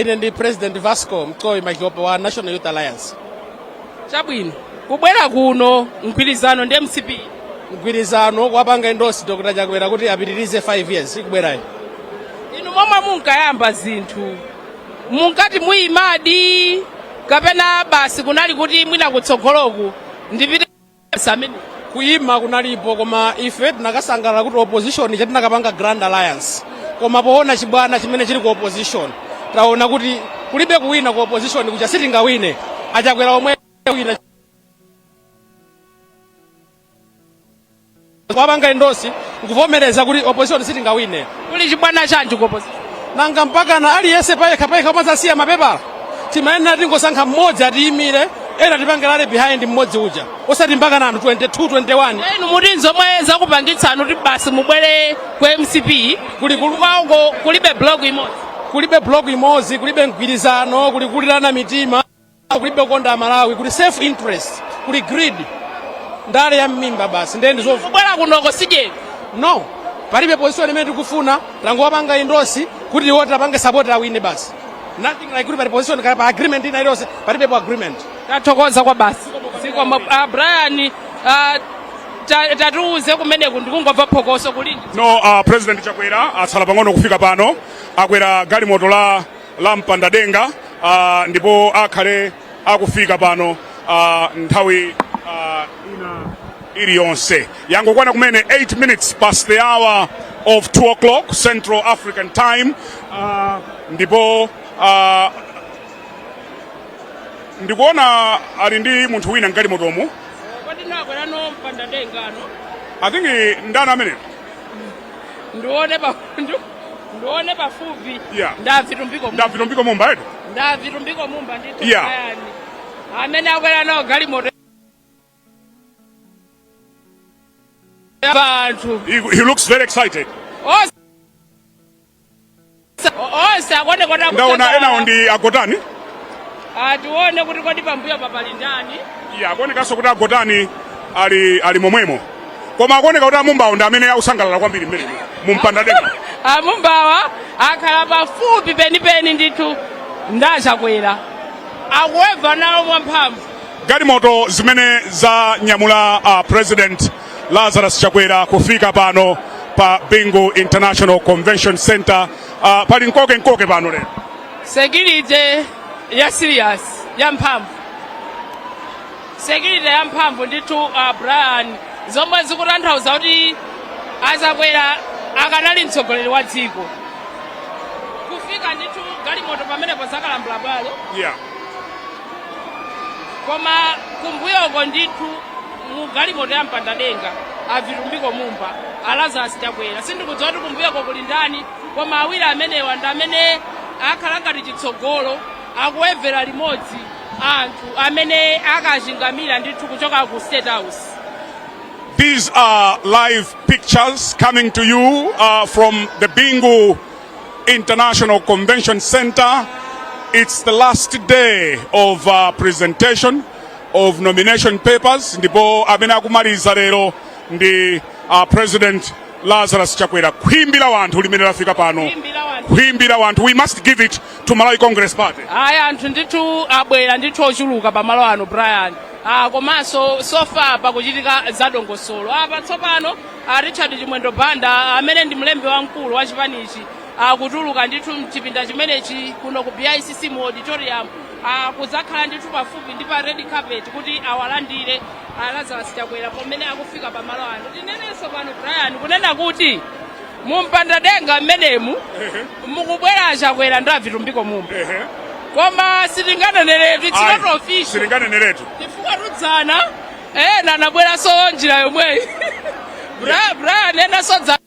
Ine ndi president vasco Madhlopa wa national youth alliance chabwino kubwera kuno mgwirizano ndi mcp mgwirizano kuwapanga endosi dr chakwera kuti apitirize 5 years ikubwerayo inu momwe munkayamba zinthu munkati muyimadi kapena basi kunali kuti mwina kutsogoloku ndipite Kuyima kunalipo koma ife tinakasangalala kuti opposition kuja tinakapanga grand alliance koma poona chibwana chimene chili ku opposition taona kuti kulibe kuwina ku opposition kuja sitingawine achakwera omwe awina Kuwapanga endorse nkuvomereza kuti opposition sitingawine. Kuli chibwana chanji ku opposition? Nanga mpakana aliyense payekha payekha kumadzasiya mapepala. Timayenera tingosankha mmodzi atiyimire ena tipange rally behind mmodzi uja osati mpakana anthu 22 21 inu muti nzomwe zakupangitsani kuti basi mubwere ku mcp kulibe block imodzi kulibe block imodzi kulibe mgwirizano kuli kulirana mitima kulibe kukonda Malawi kuli self interest kuli greed ndale ya mmimba basi ndiye ndizovuta kubwera kunoko sijeni? no palibe position imene tikufuna tangowapanga endosi kuti iwo tiwapange support awine basi nothing like kuti pali position kaya pa agreement ina iliyonse palibepo agreement tathokoza kwabasi zikomo uh, brian uh, ta- tatiuze kumeneko ndikungomva phokoso kuli nji? No uh, president chakwera atsala pang'ono kufika pano akwera galimoto la lopanda denga uh, ndipo akhale akufika pano uh, nthawi uh, ina iliyonse yangokwana kumene 8 minutes past the hour of 2 o'clock central african time uh, ndipo uh, ndikuona ali ndi munthu wina mgalimotomu kodi ndani akwera nawo mpanda dengamo i think ndani ameneyo ndione pakundu Ndione pafupi. Yeah. Ndi a Vitumbiko Mumba. Ndi a Vitumbiko Mumba eti? Ndi a Vitumbiko Mumba ndithu. Yeah. Ayani. Amene akwera nawo galimoto. Abantu. He, he looks very excited. Oh. Onse akone kona Ndaona ena ndi a Gotani. Tione ah, kuti kodi pambuyo papali ndani? Iya, akuonekanso kuti a Gotani ali ali momwemo. koma akuoneka kuti amumbawo ndi amene akusangalala kwambiri mmene mu mpanda denga amumbawa akhala pafupi penipeni ndithu ndi a Chakwera akuweva nawo mwamphamvu galimoto zimene zanyamula uh, president lazarus chakwera kufika pano pa bingu international convention center uh, pali nkokenkoke pano lero security ya serious ya mphamvu security yamphamvu ndithu uh, brian zomwe zikutanthauza kuti achakwera akanali mtsogoleri wa dziko kufika ndithu galimoto pamenepo zakalambula bwalo yeah koma kumbuyoko ndithu mu galimoto ya mpandadenga avitumbiko mumba alazarus chakwera sindikudziwa kuti kumbuyoko kuli ndani koma awiri amenewa ndi amene akhala ngati chitsogolo Akuwevela limodzi anthu amene akachingamira ndithu kuchoka ku State House. These are live pictures coming to you uh, from the Bingu International Convention Center. It's the last day of uh, presentation of nomination papers. Ndipo amene akumaliza lero ndi uh, President Lazarus Chakwera. Khwimbi la wanthu limene lafika pano. Khwimbi la wanthu. We must give it to Malawi Congress Party? ayi anthu ndithu abwera ndithu ochuluka pamalo ano brian ah, komanso so far pakuchitika zadongosolo apa tsopano ah, richard chimwendo banda amene ndi mlembi wamkulu wa chipanichi akutuluka ndithu mchipinda chimenechi kuno ku bicc mu auditorium ah, kuzakhala ndithu pafupi ndi pa red carpet kuti awalandire ah, lazarus chakwera pamene akufika pamalo ano tinenenso pano brian kunena kuti mumpandadenga mmenemu mukubwera achakwera ndi avitumbiko mumba koma sitinganeneretu it's Ayi, not official sitinganeneretu chifukwa dzana ena anabweranso njira yomweyi Bra- brian enanso dza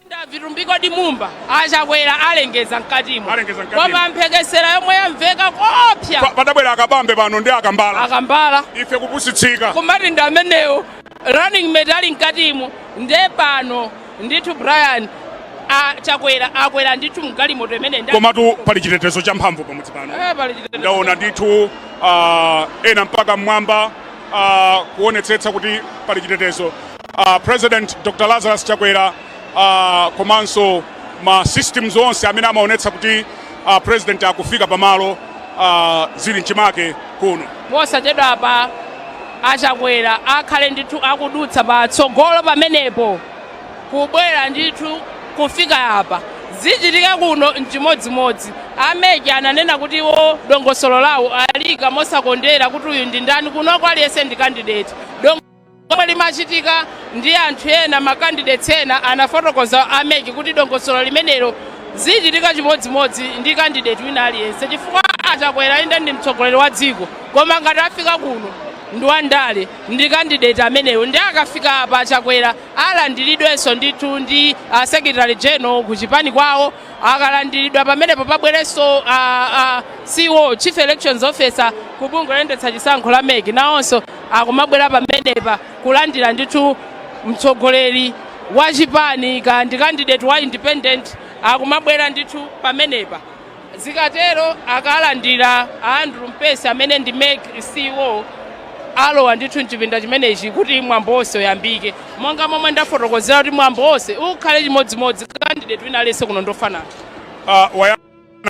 ndi a Vitumbiko Mumba, a Chakwera alengeza mkatimo Alengeza mkatimo. koma mphekesera yomwe yamveka koopsa Pa- padabwera akabambe pano ndi akambala akambala ife kupusitsika kumati ndi amenewo running mate ali mkatimu nde pano ndithu brian a chakwera akwera ndithu mgalimoto imene nda- komatu pali chitetezo cha mphamvu pamudzi pano Eh, pali chitetezo. ndaona ndithu ah, ena mpaka mmwamba ah, kuonetsetsa kuti pali chitetezo Ah, president dr lazarus chakwera ah, komanso ma systems onse amene amaonetsa kuti uh, president akufika pamalo uh, zili mchimake kuno posachedwapa achakwera akhale ndithu akudutsa patsogolo pamenepo kubwera ndithu kufika apa zichitike kuno mchimodzimodzi a MEC ananena kuti iwo dongosolo lawo aliika mosakondera kuti uyu ndi ndani kuno aliyense ndi kandideti Lomwe limachitika ndi anthu ena ma candidates ena anafotokoza a mec kuti dongosolo limenelo zichitika chimodzimodzi ndi candidate wina aliyense chifukwa achakwera inde ndi mtsogoleri wa dziko koma ngati afika kuno ndi wandale ndi candidate ameneyo ndi akafika apa achakwera alandiridwenso ndithu ndi secretary general ku chipani kwawo akalandiridwa pamenepo pabwerenso uh, uh, ceo chief elections officer ku bungwe loyendetsa chisankho la mec nawonso akumabwera pamenepa kulandira ndithu mtsogoleri wa chipani ka ndi candidate wa independent akumabwera ndithu pamenepa zikatero akalandira andrew mpesi amene ndi mec ceo alowa ndithu mchipinda chimenechi kuti mwambo wonse uyambike Monga momwe ndafotokozera kuti mwambo wonse ukhale chimodzimodzi candidate wina aliyense kuno ndofanana. Uh, waya,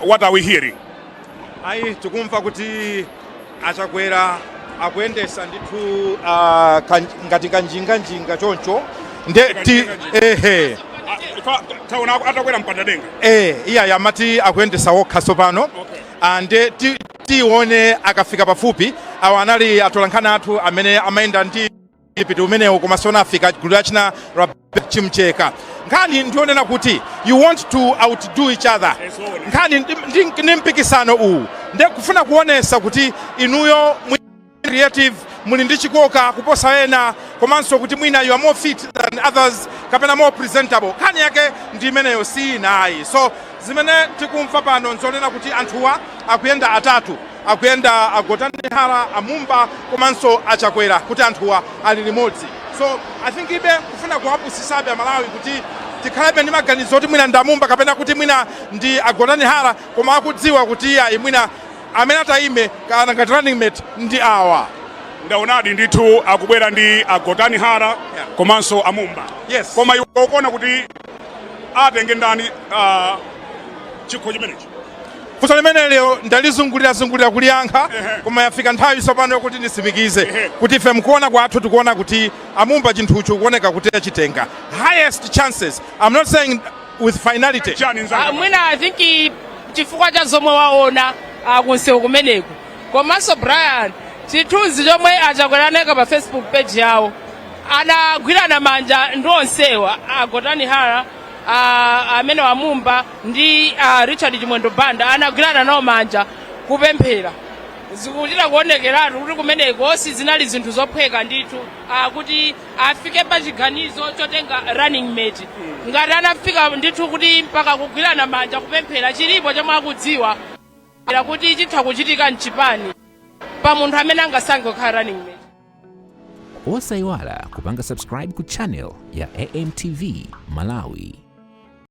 what are we hearing? Ayi tikumva kuti achakwera akuyendesa ndithu uh, kan, ngati kanjinga njinga choncho nde ti ehe Ah, taona atakwera mpandadenga eh iyayi amati akuyendesa wokha sopano okay. and titione akafika pafupi awa anali atolankhani athu amene amayenda ndi tipiti umenewo koma sanafike gulu lachina la chimcheka nkhani ndionena kuti you want to outdo each other nkhani ndi- ndi- ndi mpikisano uwu nde kufuna kuonesa kuti inuyo mwi- creative muli ndi chikoka kuposa ena komanso kuti mwina you are more fit than others kapena more presentable nkhani yake ndi imeneyo si ina ayi so zimene tikumva pano nzonena kuti anthuwa akuyenda atatu Akuyenda a Gotani Hara, a Mumba komanso a Chakwera kuti anthuwa ali limodzi. So I think ibe kufuna kuwapusisabe a Malawi kuti tikhalebe ndi maganizo kuti mwina ndi a Mumba kapena kuti mwina ndi a Gotani Hara koma akudziwa kuti iyayi mwina amene ataime nawo ngati running mate ndi awa. Ndaonadi ndithu akubwera ndi a Gotani Hara yeah. komanso a Mumba. Yes. Koma iwe ukuona kuti atenge ndani uh, chikho chimenechi? Funso limeneli ndalizungulirazungulira kuliyankha koma yafika nthawi tsopano yokuti nditsimikize kuti ife mukuona kwathu tikuona kuti amumba chinthuchi kukuoneka kuti achitenga highest chances i'm not saying with finality chani Ah, nzanga mwina i think i- chifukwa cha zomwe waona ah, kumsewu kumeneku komanso brian chithunzi chomwe achakwera aika pa facebook page yawo anagwirana manja ndi onsewa agotani hara ah, ameneyo amumba ndi a richard chimwendo banda anagwirana nawo manja kupemphera zikuchita kuonekeratu kuti kumeneko sizinali zinthu zophweka ndithu ah, kuti afike pa chiganizo chotenga running mate ngati anafika ndithu kuti mpaka kugwirana manja kupemphera chilipo chomwe akudziwa kuti chitha kuchitika mchipani pa munthu amene angasankhe kukhala running mate osayiwala kupanga subscribe ku channel ya amtv malawi